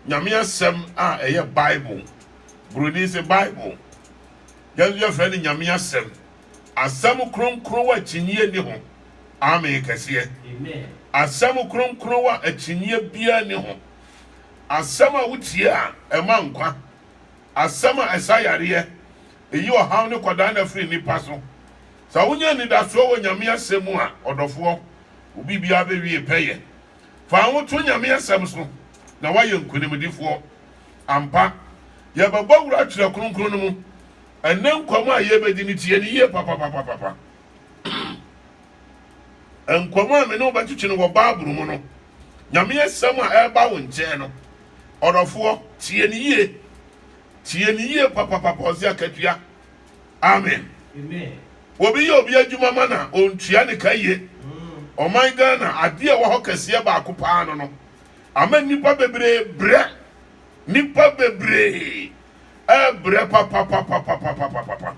Nyame Asɛm a ɛyɛ Bible. Buroni se Bible. Yɛn nso yɛfrɛ no Nyame Asɛm. Asɛm kronkron a akyinnyeɛ nni ho. Amen kɛseɛ. Asɛm kronkron a akyinnyeɛ biara nni ho. Asɛm a wotie a ɛma nkwa. Asɛm a ɛsa yareɛ. Ɛyi ɔhaw ne kwadaanna firi nnipa so. Sɛ wonya anidasoɔ wɔ Nyame Asɛm mu a, ɔdɔfoɔ, wo biribiara bɛwie pɛyɛ. Fa wo ho to Nyame asɛm so na woayɛ nkonimdifoɔ. Ampa, yɛbɛbɔ wura twerɛ kronkron no mu. Ɛnnɛ nkɔmmɔ a yɛbɛdi no tie no yie papapapapa. Nkɔmmɔ a me ne wo bɛtwetwe no wɔ Bible mu no, Nyame asɛm a ɛreba wo nkyɛn no, ɔdɔfoɔ, tie no yie. Tie no yie papapapa, ɔse akatua. Amen. Obi yɛ obi adwuma ma na ɔntua ne ka yie. Ɔman Ghana, adeɛ ɛwɔ hɔ kɛseɛ baako paa no no ama nnipa bebree brɛ. Nnipa bebree ɛbrɛ papapapapapapapa.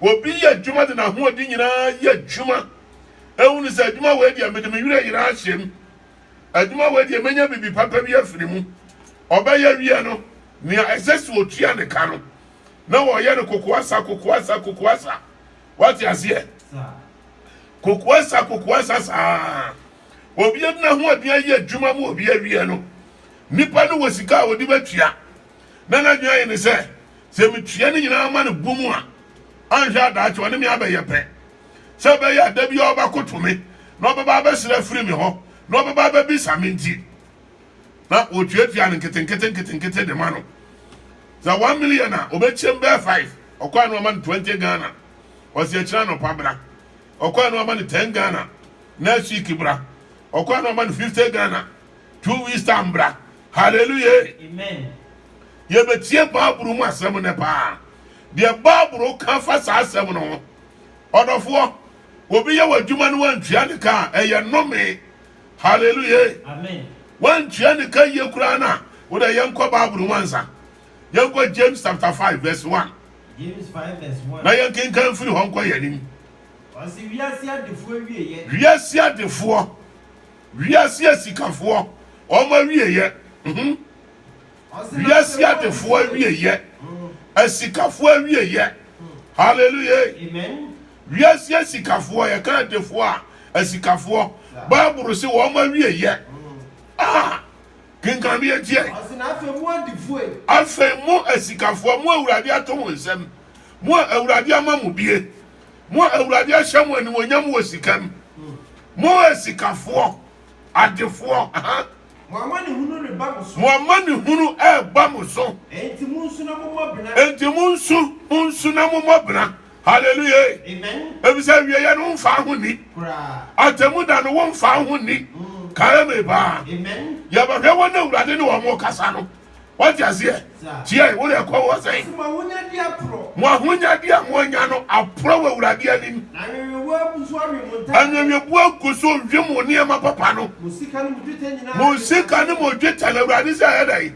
Obi yɛ adwuma de n'ahoɔden nyinaa yɛ adwuma. Ehu ne sɛ adwuma wei deɛ mede me werɛ nyinaa ahyɛ mu. Adwuma wei deɛ menya biribi papa bi afiri mu. Ɔbɛyɛ wie no, nea ɛsɛ sɛ ɔtua ne ka no, na wɔyɛ no kokoasa kokoasa kokoasa wate aseɛ kokoasa kokoasa saa obi adina ho aduan ayɛ adwuma mu obi awie no nipa no wɔ sika a wɔde bɛtua na n'adwene ayɛ ne sɛ sɛ metua no nyinaa ma no bu mu a anhwɛ adaakye ɔne me abɛyɛ pɛ sɛ ɛbɛyɛ ada bi a ɔbɛkoto me na ɔbɛba abɛsrɛ afiri me hɔ na ɔbɛba abɛbisa me nti na otuatua no nketenkete nketenkete de ma no sɛ one million a ɔbɛkyɛm bɛɛ five ɔkɔa no ama no twenty ghana ɔsi akyerɛ anɔpa bra ɔkɔa no ama no ten ghana next week bra ɔkɔa no ama no fifty ghana two weeks time bra hallelujah amen yɛbɛtie baaburo mu asɛm no paa deɛ baaburo ka fa saa asɛm no ho ɔdɔfoɔ obi yɛ w'adwuma no wantua ne ka a ɛyɛ nnome Hallelujah. Wantua ne ka yie koraa no a, wo dɛ yɛnkɔ Bible mu ansa. Yɛnkɔ James chapter five verse one. James five verse one. Na yɛnkenkan firi hɔ nkɔ yɛn anim. Ɔsi wiase adefoɔ awieɛ. Wiase adefoɔ, wiase asikafoɔ, wɔn awieɛ. Mhm. Wiase adefoɔ awieɛ, asikafoɔ awieɛ. Hallelujah. Amen. Wiase asikafoɔ, yɛka adefoɔ a, asikafoɔ. Bible se wɔn awieɛ. Ah, kenkan yɛ ntiɛ. Ɔsi na afei mu adifoɔ. Afei mu asikafoɔ, mu awurade ato wɔn nsam, mu awurade ama mu bie, mu awurade ahyɛ mu animonyam wɔ sikam, mu asikafoɔ, adefoɔ. Mo amanehunu reba mo so. Mo amanehunu reba mo so. Enti monsu na mommɔ bena. Enti monsu, monsu na mommɔ bena. Hallelujah. Amen. Efisɛ awieeɛ no womfaa ho nni. Koraa. Atemmuda no womfaa ho nni. Mm. Kae me paa. Amen. Yɛbɛhwɛ wɔn a Awurade ne wɔn rekasa no. wate aseɛ tiɛ wo deɛ kɔ wɔ sɛn mo ahonyade a moanya no aporɔ wɔ awurade anim anwenwebu agu so ɔwe mo nneɛma papa no mo sika ne mo dwetɛ no awurade sɛ ɛyɛ dɛn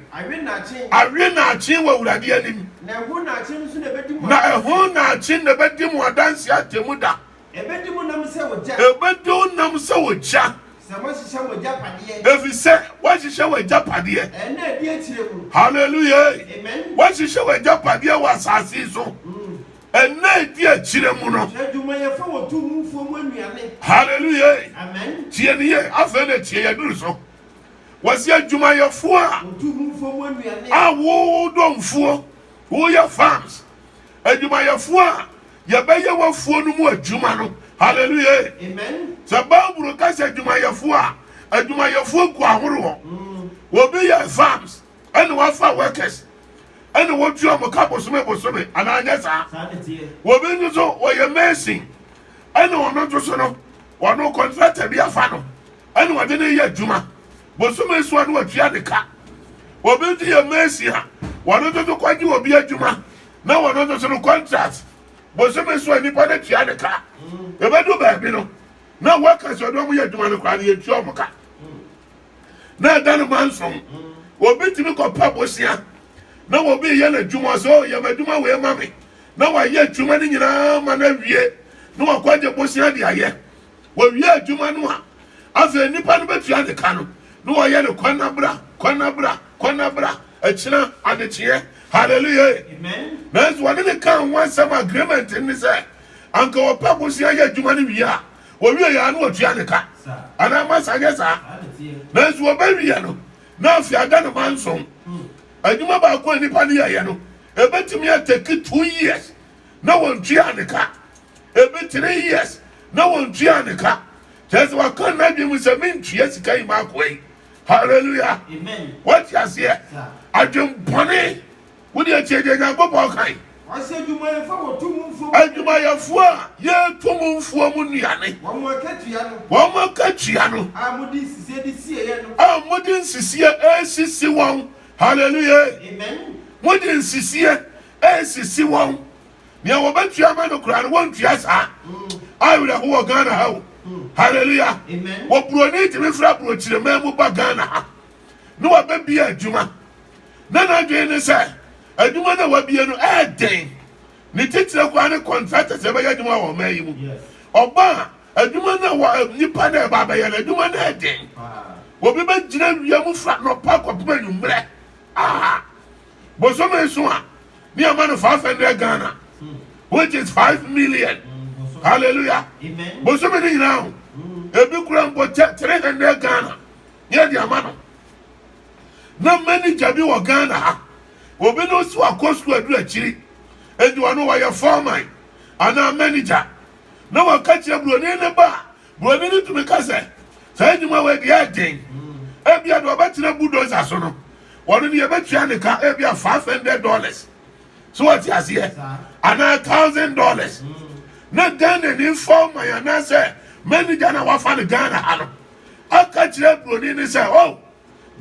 awe naakye wɔ awurade anim na ɛho naakye na ɛbɛdi mo adanse atemu da Ɛbɛdi mo nam sɛ ogya. Ɛbɛdi wo nam sɛ ogya. Sɛ moahyehyɛ mo agyapadeɛ. Ɛfiri sɛ woahyehyɛ w'agyapadeɛ. Ɛnna a ɛdi akyire mu. Hallelujah ei. Amen. Woahyehyɛ w'agyapadeɛ wɔ asase yi so. Ɛnna a ɛdi akyire mu no. Sɛ adwumayɛfoɔ wɔ tummufoɔ mu nnuane. Hallelujah ei. Amen. Tie no yie, afei na tie, yɛduru so. Wɔsi adwumayɛfoɔ a. Wɔ tummufoɔ mu nnuane. A wodɔ mfuo, woyɛ farms, Adwumayɛfoɔ a yɛbɛyɛ w'afuo no mu adwuma no. Hallelujah. Amen. Sɛ Bible ka sɛ adwumayɛfoɔ a, adwumayɛfoɔ gu ahoroɔ. Mm. Obi yɛ farms, ɛna wafa workers, ɛna wɔtua wɔn ka bosome bosome, anaa nyɛ saa. Obi nso so wɔyɛ mason, ɛna ɔno nso so no, wɔn contractor bi afa no, ɛna wɔde ne yɛ adwuma. Bosome soa no ɔtua ne ka. Obi nso yɛ mason a, wɔn nso so kɔgye obi adwuma na wɔn nso so no contract. Bosome soa nipa no tua ne ka. Ebedu baabi no, na workers a wɔn yɛ adwuma no koraa no yɛntua wɔn ka. Na ɛda no manson. Obi tumi kɔpa bosea na obi yɛ n'adwuma ɔsɛ o yɛ m'adwuma wei ma me na wayɛ adwuma no nyinaa ma no awie na wakɔgye bosea de ayɛ. Wɔwie adwuma no a, afei nnipa no bɛtua ne ka no, na wɔyɛ no kwanabra, kwanabra, kwanabra, akyina, adekyeɛ. Hallelujah! Nanso wɔne ne kaa ho asɛm agreement ne sɛ, anka wɔpɛ bosea yɛ adwuma no wie a, wɔwie yɛ a na wɔtua ne ka. Anaa masa nyɛ saa? Nanso wɔbɛwie no, na afei ada no ma nson. Adwuma baako a nnipa no yɛeɛ no, ɛbɛtumi atɛki two years na wɔntuaa ne ka. Ebi three years na wɔntuaa ne ka. Kyerɛ sɛ waka n'adwene mu sɛ mentua sika yi m'akoa yi. Hallelujah. Amen. Wɔte aseɛ. Sir. Adwempɔne. Wode atie deɛ Nyankopɔn kan. Ɔsɛ adwumayɛfoɔ a wɔtu mu mfuo mu. Adwumayɛfoɔ a yɛtu mu mfuo mu nnuane. Wɔn akatua no. Wɔn akatua no. A mode nsisie de sieɛ no. A mode nsisie ɛresisi wɔn. Hallelujah. Amen. Mode nsisie Ɛnsisi wɔn. Nea wɔbɛtua ama no koraa no, wɔntua saa. Awerɛho wɔ Ghana ha o. Hallelujah. Wɔ buroni tumi fra burokyirema mu ba Ghana ha na wabɛbia adwuma. Na n'adwene ne sɛ adwuma no a wabie no ɛɛden. Ne titire koraa ne contractors ɛbɛyɛ adwuma wɔ ɔman yi mu. Ɔba a adwuma no a wɔ eh, nipa no ɛba abɛyɛ no adwuma no ɛɛden. Obi bɛgyina wia mu fra nɔpa kɔpem anwummerɛ. Aha. bosome nso a ne ama no five hundred ghana which is five million mm, hallelujah bosome ne nyinaa ho mm. ebi kura mbɔ kyɛ three hundred ghana ne ɛde ama no na manager bi wɔ ghana ha obi no so akɔ sukuu aduru akyiri edi wɔn no wɔyɛ foreman anaa manager na wɔka kyerɛ buroni ne ba a. Buroni no tumi ka sɛ, Saa nnwuma wei deɛ ɛyɛ den. Ebia deɛ ɔbɛtena bulldozer so no, wɔn deɛ ɛbɛtua ne ka ebia five hundred dollars. So wɔte aseɛ? Anaa thousand dollars. Na Ghana ni fɔman anaasɛ manager na wafa no Ghana ha no aka kyerɛ buroni no sɛ, oh,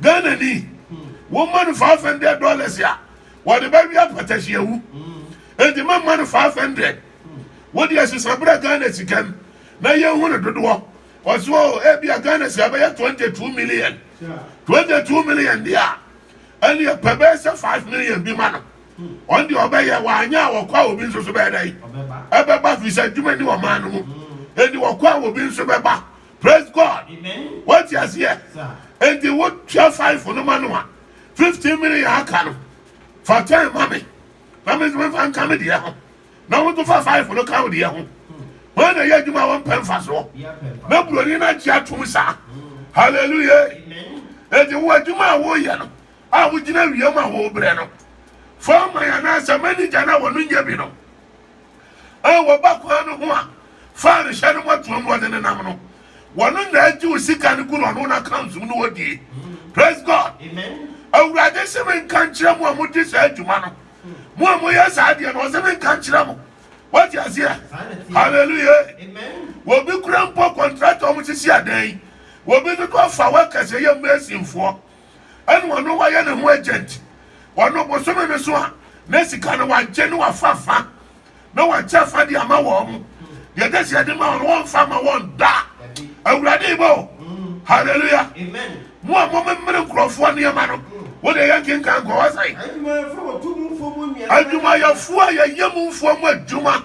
Ghana ni, wɔma no five hundred dollars a wɔde bɛwia patahyiawu. Enti mɛma no five hundred. Wode asisaberɛ Ghana sikam na yɛnhu no dodoɔ ɔso o ebia Ghana sika bɛyɛ 22 million 22 million deɛ a ɛneɛ pɛ bɛyɛ sɛ 5 million bi ma no ɔn deɛ ɔbɛyɛ wanyɛ a wɔkɔ a obi nso so bɛyɛ dɛn ɛbɛba firi sɛ adwuma ni ɔman no mu ɛnti wɔkɔ a obi nso bɛba praise God wati aseɛ ɛnti wotua 5 no ma no a 15 million aka no fa 10 ma me na me nso mefa nka me deɛ ho na wɔto fa five no ka wo deɛ ho wɔn na ɛyɛ adwuma a wɔmpɛ mfasoɔ na buroni no agye atom saa hallelujah ɛde wo adwuma a woyɛ no a wogyina wiem a wɔbrɛ no fɔɔma yɛ anaasɛ manigya no a wɔno nyɛ bi no a wɔba kwan no ho a faa no hyɛ no mɔtoam na wɔde ne nam no wɔno na agye wo sika no gu no ɔno no account mu no wɔdie praise god awurade se menka nkyerɛ mo a mogye saa adwuma no mo a moyɛ saa deɛ no ɔsɛ menka nkyerɛ mo wate aseɛ halleluya wɔbi kura mpo kɔntraktɔ mo sisi adan yi wɔbi dodo afa workers ɛyɛ masinfoɔ ɛne ɔno wayɛ ne ho agent ɔno bosome no so a na sika no wagye ne wafafa na wɔakyɛ afa de ama wɔn. Deɛ ɛkyɛ sɛ yɛde ma wɔn no, wɔmfa ma wɔn da. Awurade yi bɔ o. Hallelujah. Mo a momemmere nkurɔfoɔ nneɛma no, wo deɛ yɛnkenkan nkɔ hɔ sɛn? Adwumayɛfoɔ a yɛyɛ mu mfoɔ mu adwuma,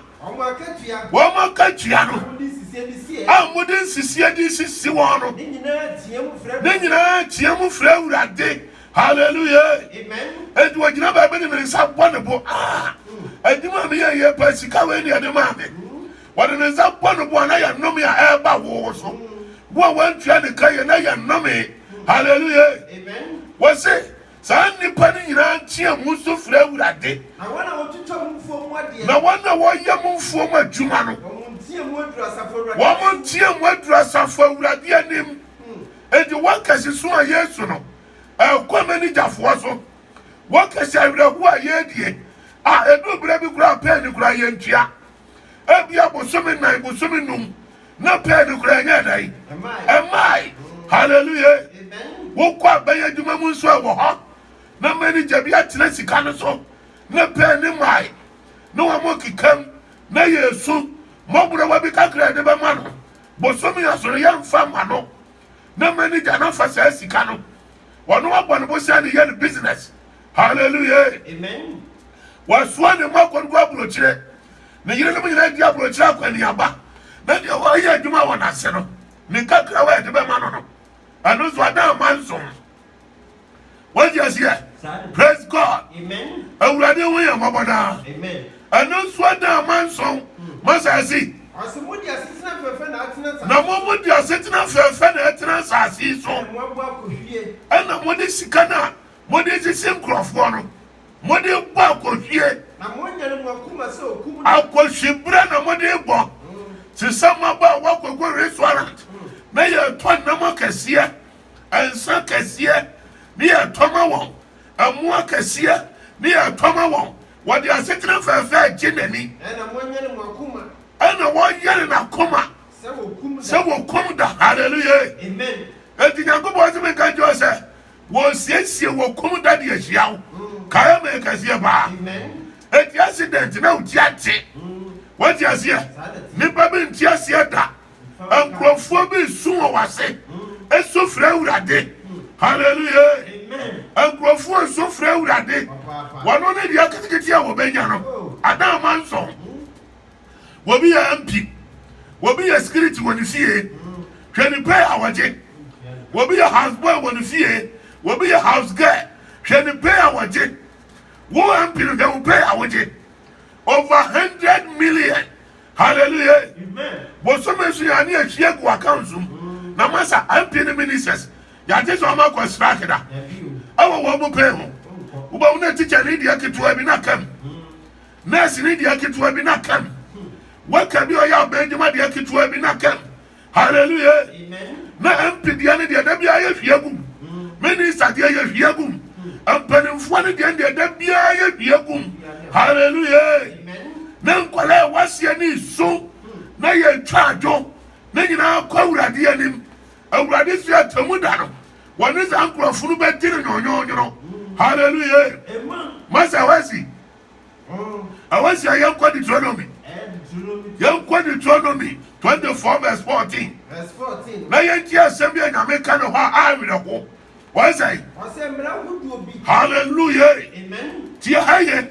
wɔn akatua no a mode nsisie de sisi wɔn no, ne nyinaa team frɛ Awurade Hallelujah. Amen. Enti wɔgyina baabi de me nsa bɔ ne bo. Ah, adwuma a meyɛ yɛ pa sika wei ne ɛde maa me. Wɔde ne nsa bɔ ne bo a na yɛ nnome a ɛreba wo so. Wo a wɔantua ne ka yɛ na yɛ nnome. Hallelujah. Amen. Wɔse saa nnipa no nyinaa nteɛ mu nso frɛ Awurade. Na wɔn a wɔtwitwa mo mfuo mu adeɛ. Na wɔn a wɔyɛ mo mfuo mu adwuma no. Wɔn nteɛ mu aduru asafo Awurade anim. Wɔn nteɛ mu aduru asafo Awurade anim. Enti wɔkɛse so a Yesu no ɛkɔ n'anigyafoɔ so. Wɔkɛse awerɛhoɔ a yɛredie a ɛduru berɛ bi koraa a pɛɛ no koraa yɛntua. Ebia bosome nnan, bosome num na pɛɛ no koraa ɛnyɛɛ dɛn? Ɛmmae. Hallelujah. Wokɔ abɛn adwuma mu nso ɛwɔ hɔ na manager bi atena sika no so na pɛɛ no mmae na wɔn kekam na yɛsu mmɔborɔwa bi kakra a yɛde bɛma no Bosome asɔre yɛ nfa mma no na manager no afa saa sika no ɔno abɔ ne bo sɛ ne yɛ ne business hallelujah wasoa ne mma kɔnkɔ aburokyire ne yerenom nyinaa di aburokyire akɔneaba na deɛ ɔyɛ adwuma wɔ n'ase no ne nkakrawa a ɛde bɛma no no ɛno nso ada amansom wagye aseɛ praise god awurade ho yɛ mmɔbɔ daa ɛno nso ada amanson masa asi na mo mo de asetena fɛɛfɛ na ɛtena asase yi so ɛna mo de sika no a mo de sisi nkurɔfoɔ no mo de bɔ akɔhwie akɔhwibrɛ na mo de bɔ te sɛ mmabaa wɔakɔkɔ restaurant na yɛtɔ nnam akɛseɛ nsã kɛseɛ ne yɛ tɔ ma wɔn, mmoa kɛseɛ ne yɛ tɔ ma wɔn, wɔde asetena fɛɛfɛɛ gye n'ani. Ɛna wɔnyɛne wɔn akoma. Ɛna wɔnyɛne n'akoma. Sɛ wɔkum da. Sɛ wɔkum da, hallelujah. Amen. Enti Nyankopɔn tumi nka nkyerɛ wo sɛ, wɔresiesie wɔkum da de ahyia wo. Mm. Kae me kɛseɛ paa. Amen. Enti accident na woti ate. Mm. Wɔte aseɛ. Nipa bi nti aseɛ da. Nkurɔfoɔ bi resu wɔ w'ase. Esu frɛ awurade. Hallelujah. Nkurɔfoɔ nsu frɛ awurade. Wɔn ne deɛ ketekete a wɔbɛnya no. Adan ama nsɔn. Wɔbi yɛ MP. Wɔbi yɛ security wɔ ne fie. Hwɛ ne pay a wɔgye. Wɔbi yɛ house boy wɔ ne fie. Wɔbi yɛ house girl. Hwɛ ne pay a wɔgye. Wo MP no hwɛ wo pay a wogye. Over hundred million. Hallelujah. Bosome so yɛ ne ahyia gu account so na masa MP ne ministers yɛagye sɛ ɔma kɔ strike da ɛwɔ wɔn mu pɛn ho wobɛhu na tikya ne deɛ ketewa bi na kam nurse ne deɛ ketewa bi na kam waka bi ɔyɛ abɛn adwuma deɛ ketewa bi na kam Hallelujah. Na MP deɛ no deɛ da biara yɛ hwia gum. Minister deɛ yɛ hwia gum. Mpanimfoɔ no deɛ deɛ da biara yɛ hwia gum. Hallelujah. Na nkwadaa ɛwɔ aseɛ ne so na yɛtwa adwo ne nyinaa kɔ awurade anim. Awurade si atemu da no wɔne saa nkurɔfo no bɛdi no nyɔnyɔnyɔnɔ. Hallelujah. Masa wasi Awɔsi a yɛnkɔ Deuteronomy. Yɛnkɔ Deuteronomy 24 verse 14. Na yɛntie asɛm bi a Nyame ka ne hɔ a awerɛho. Wɔn sɛ. Ɔsɛ mmara ahodoɔ bi. Hallelujah. Amen. Tie ha yɛ.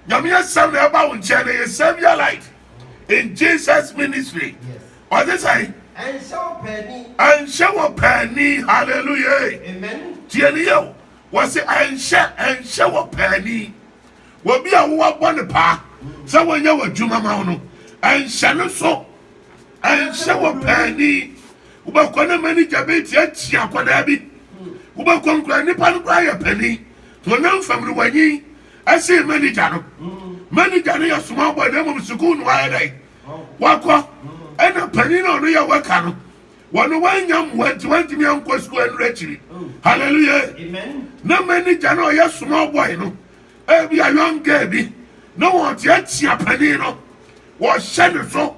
Nyame asɛm na ɛba wo nkyɛn na yɛ Savior light in Jesus ministry. Ɔde sɛ. Ɛnhyɛ wɔ pɛni. Ɛnhyɛ wɔ pɛni. Hallelujah. Amen. Tie ne yɛ o. Wɔse ɛnhyɛ ɛnhyɛ wɔ paani, obi a woabɔ no paa sɛ wɔnyɛ w'adwuma ma wo no, ɛnhyɛ no so. Ɛnhyɛ wɔ paani. Wobɛkɔ na manigya bɛti akyi akwadaa bi. Wobɛkɔ nkura nipa no koraa yɛ panin. Honam fam no wanyin ɛsen manigya no. Manigya no yɛ small boy na mmom sukuu no ayɛ dɛn wakɔ ɛna panin na ɔno yɛ wɛka no Wɔn wannya mmoa nti wantumi ankɔ sukuu ɛnura akyiri. Hallelujah. Na manager na ɔyɛ small boy no ebi a young girl bi na wɔn te akyia panin no wɔhyɛ ne so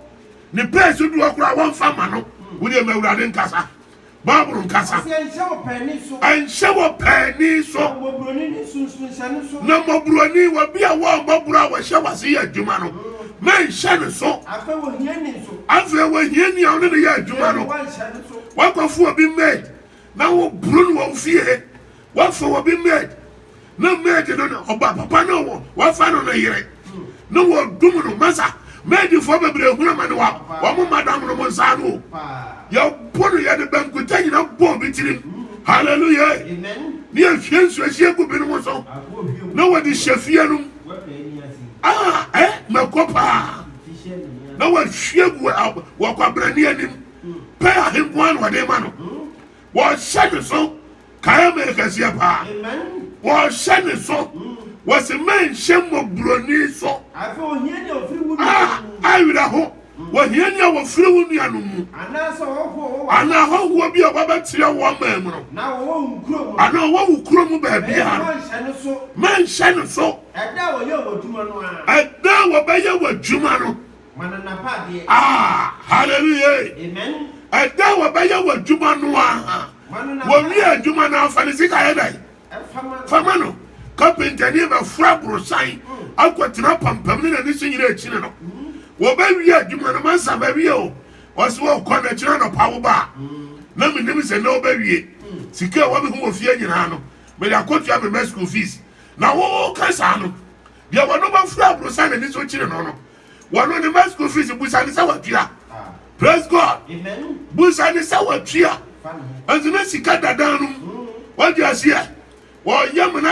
ne pɛɛ so duro koraa wɔnfa ma no wodi ɛmɛ awurade nkasa baabolo nkasa ɛnhyɛ wɔ pɛɛni so na mɔburoni wɔ bi a wɔn mɔburo a wɔhyɛ wɔ ase yɛ adwuma no. Mɛnhyɛ no so. Afei ohiani nso. Afei ohiani a wo ne no yɛ adwuma no. Woanhyɛ no so. Woakɔfa obi maid na woboro no wɔ wo fie. Woafa obi maid na maid no ne ɔba papa no a woafa no no yere na wɔdum no. Masa, maidfoɔ bebree hunu amane wɔ wɔn madam nom nsa ano o. Yɛbo no, yɛde bankuta nyina bɔ obi tirim. Hallelujah! Ne yɛhwie nsuo hyɛ gu binom so na wɔde hyɛ fie no mu. Ah, eh, mɛkɔ paa na wɔahwie gu wɔkwabrani anim pɛ ahenkoa na wɔde ma no wɔhyɛ ne so kae me kɛseɛ paa wɔhyɛ ne so wɔsi mɛnhyɛ mmɔborɔni so a awerɛho Wɔhia ni a wɔfiri wo nuanom mu, anaa hɔhoɔ bi a wɔabɛteɛ wo ɔman mu no, anaa ɔwɔ wo kuro mu baabiara no, mɛnhyɛ no so. Ɛda a wɔbɛyɛ w'adwuma no, ah, hallelujah, ɛda a wɔbɛyɛ w'adwuma no ara, wɔwie adwuma no ara, fa ne sika yɛ dɛn? fama no kapenta ne bɛforo aborosan akɔtena pampam ne n'ani so nyina akyiri no wɔbɛwie adwuma no mansa bɛwie o ɔsɛ wɔkɔ na kyerɛ nɔpa wo ba na menim sɛ na wobɛwie sika a wɔmehu wɔ fie nyinaa no mede akɔtua me ma school fees na woka saa no deɛ wɔno bɛforo aborosan n'ani so kyiri no no Wɔno ne ma school fees busa ne sɛ watua. Praise God. Busa ne sɛ watua. Ɛnti ne sika dadaa no mu. Wadi aseɛ. Wɔyɛ mena.